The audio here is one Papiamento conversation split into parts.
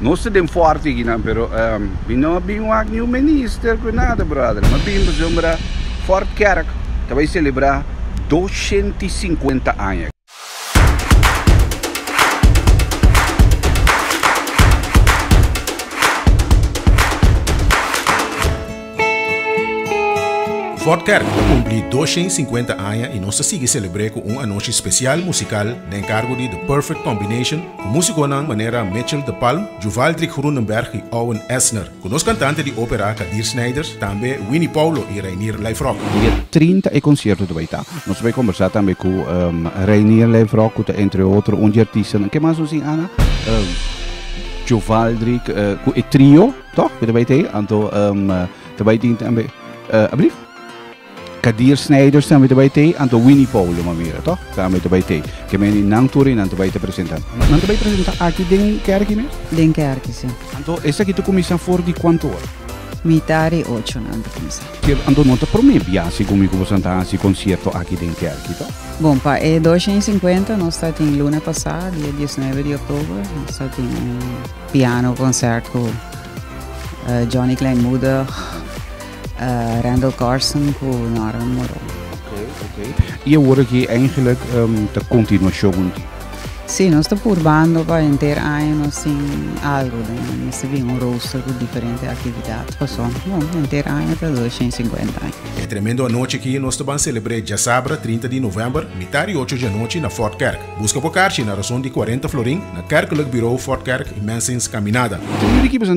Nos ta den forte aki nan pero um, mi no a bin wak niun minister ku nada brother. Ma bin pasobra Fort Kerk ta bai celebra 250 aña. Fort Kerk ta cumpli 250 aña y nos ta sigui celebre cu un anochi special musical den cargo di The Perfect Combination, Ku músikonan manera Mitchell de Palm, Juvaldrik Groenenberg i Owen Esner. Ku nos kantante di ópera Kadir Snijders, tambe Winnie Paulo i Reinier Lijfrock. Dia trinta e konsierto ta bai ta. Nos ta bai kombersá tambe ku Reinier Lijfrock ku ta entre otro un di artistanan. Ke mas nos tin Ana? Juvaldrik ku e trio, tòg? Ku ta bai ta ei. Anto ta bai tin tambe, ablief? Kadir Snijders tambe ta bai t'ei, anto Winnie Paulo Mamera to tambe ta bai t'ei. Ke mende nan tur i nan ta bai ta presenta. Nan ta bai presenta aki den kerki mes? Den kerki si. Anto esaki ta kuminsá for di kuantu ora? Mitá di ocho nan ta kuminsá. Ke anto no ta promé biaha ku mi ku boso nan ta hasi konsierto aki den kerki to. Bon, pa e doshen i sinkuenta nos ta tin luna pasá dia diesnebe di oktober nos ta tin un piano konsèrt ku Johnny Kleinmoedig. Uh, Randall Carson cu Norman Moron. Okay, okay. Y ahora que eigenlijk um, ta continuación di. Sí, nos está purbando para enter año nos sin algo, ¿no? nos tiene un rooster con diferentes actividades, pues son, no, enter año está 250 años. É tremendo anoche que nos está celebrar já sabra 30 de novembro, mitad de 8 de noite na Fort Kerk. Busca por carche na razón de 40 florin na Kerkelijk Bureau Fort Kerk e Mensens Caminada. Como de que pasan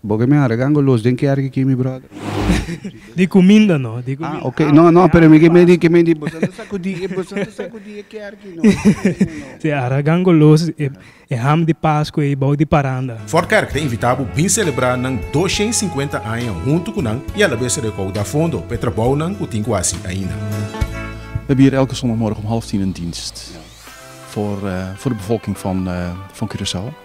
Bo ke mi a regango los den kerk aki mi brother. Di kuminda no, di kuminda. Ah, ok. No, no, pero mi ke medi, ke medi boso no sakudi, e boso no sakudi e kerki no. Si a regango los e e ham di Pasku ei bou di paranda. Fort Kerk ta invitá bo bin selebrá nan doshen i sinkuenta aña huntu ku nan i alabes rekou da fondo pa e trabounan ku tin ku hasi ainda. We hebben hier elke zondagmorgen om half tien een dienst voor de bevolking van Curaçao.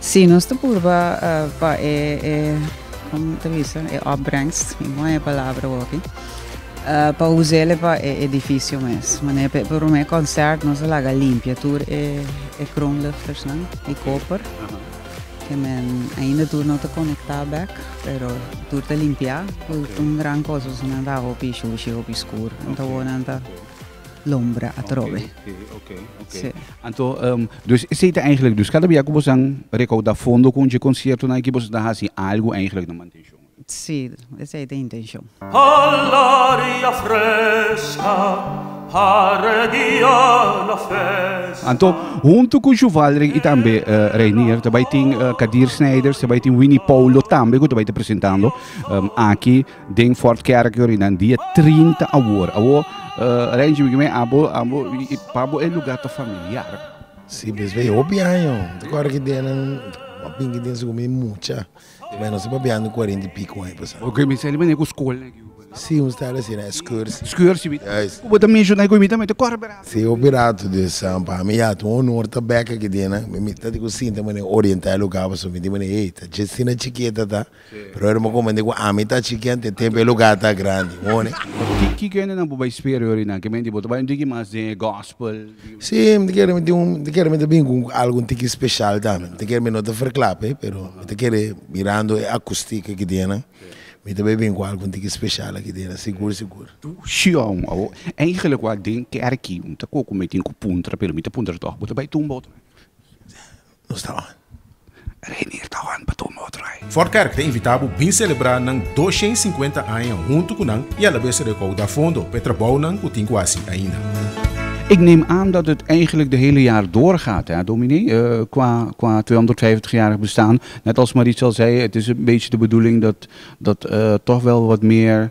Sí, nos ta purba pa e, e como te bisa, e opbrengst, mi moe e palabra hopi, pa usele pa e edificio mes. Mané pe promé concert nos a laga limpia tur e, e kroonluchters nan, e koper. Ke men ainda tur no ta conecta bek, pero tur ta limpia. Tur ta un gran cosa, su nan ta hopi shushi, hopi skur. Anto bo nan ta lombra atrobe. Okay, okay, okay. Sí. Anto, um, dus esei ta eigenlijk, dus cada bia ku bos an recauda fondo kun je concierto na ki bos ta hasi algo eigenlijk na mantention. Sí, esei ta intention. Alaria fresca, haregia la festa. Anto, junto ku Juvalrik i tambe uh, Reinier, ta bai tin uh, Kadir Snijders, ta bai tin Winnie Paulo tambe ku ta bai te presentando um, aki Den Fort Kerkdorp nan dia trinta awor. Awor, uh, Renji, mi kime, abo, abo, pabo e lugar ta familiar. Si, bes bay hopi año. Te kor ki dia nan, a pinki dia su kumi mucha. Bay no si papiando cuarenta y pico año pasa. Ok, mi sali mane ku skol na Cuba. Si, un stala si na excursie. Excursie, mi. Yes. Kubo ta menciona i ku mi tambe te kor bera. Si, hopi rato des, um, pa mi ya ta un honor ta beka ki dia nan. Mi, mi ta di ku sinta mane orienta e lugar paso mi di mane, hey, ta dje sina chiqueta ta. Brother mo comprende cu ami ta chikian te tempo e lugar ta grandi hone. Ki kende nan bo bai spera e orinan? Ke menti bo ta bai un tiki mas den e gospel? Si mi ta kere mi tin un mi ta kere mi ta bini cu algo un tiki special tambe mi ta kere mi no ta verklape pero mi ta kere mirando e acoustic aki dia nan mi ta bai bini cu algo un tiki special aki dia nan sigur sigur. Tucion awo eigenlik wak den kerki mi ta koku mi tin cu puntra pero mi ta puntra toch bo ta bai tumba otro menti? Nos ta on. Reinier ta on pa tuma otro ai. Fort Kerk ta invitá bo bin selebrá nan doshen i sinkuenta aña huntu ku nan i alabes rekouda fondo pa e trabounan ku tin ku hasi ainda. Ik neem aan dat het eigenlijk de hele jaar door gaat, hè dominee, qua tweehonderdvijfentigjarig bestaan. Net als Marietje al zei, het is een beetje de bedoeling dat toch wel wat meer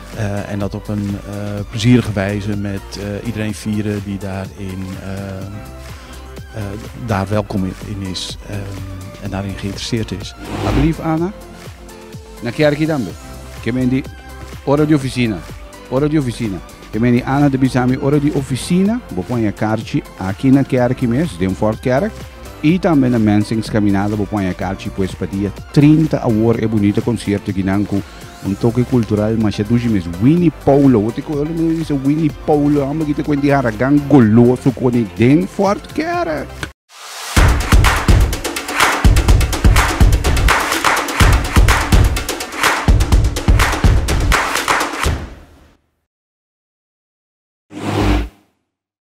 En dat op een plezierige wijze met iedereen vieren die daar in daar welkom in is en daarin geïnteresseerd is. A brief Anna, na kerkie tambe. Ke men di ora di oficina, ora di oficina. Ke men di Anna ta bisa mi ora di oficina, bo pon e karchi aki na kerkie mes, den Fort Kerk, i tambe na Mensing's Caminada bo pon e karchi pues pa dia trinta awor e bunita concierto aki nan ku Un toke kultural masha dushi mes Wini Poulo. Bo te kore mi bisa Wini Poulo. Amba ki te kwenti haragan goloso koni den Fort Kerk.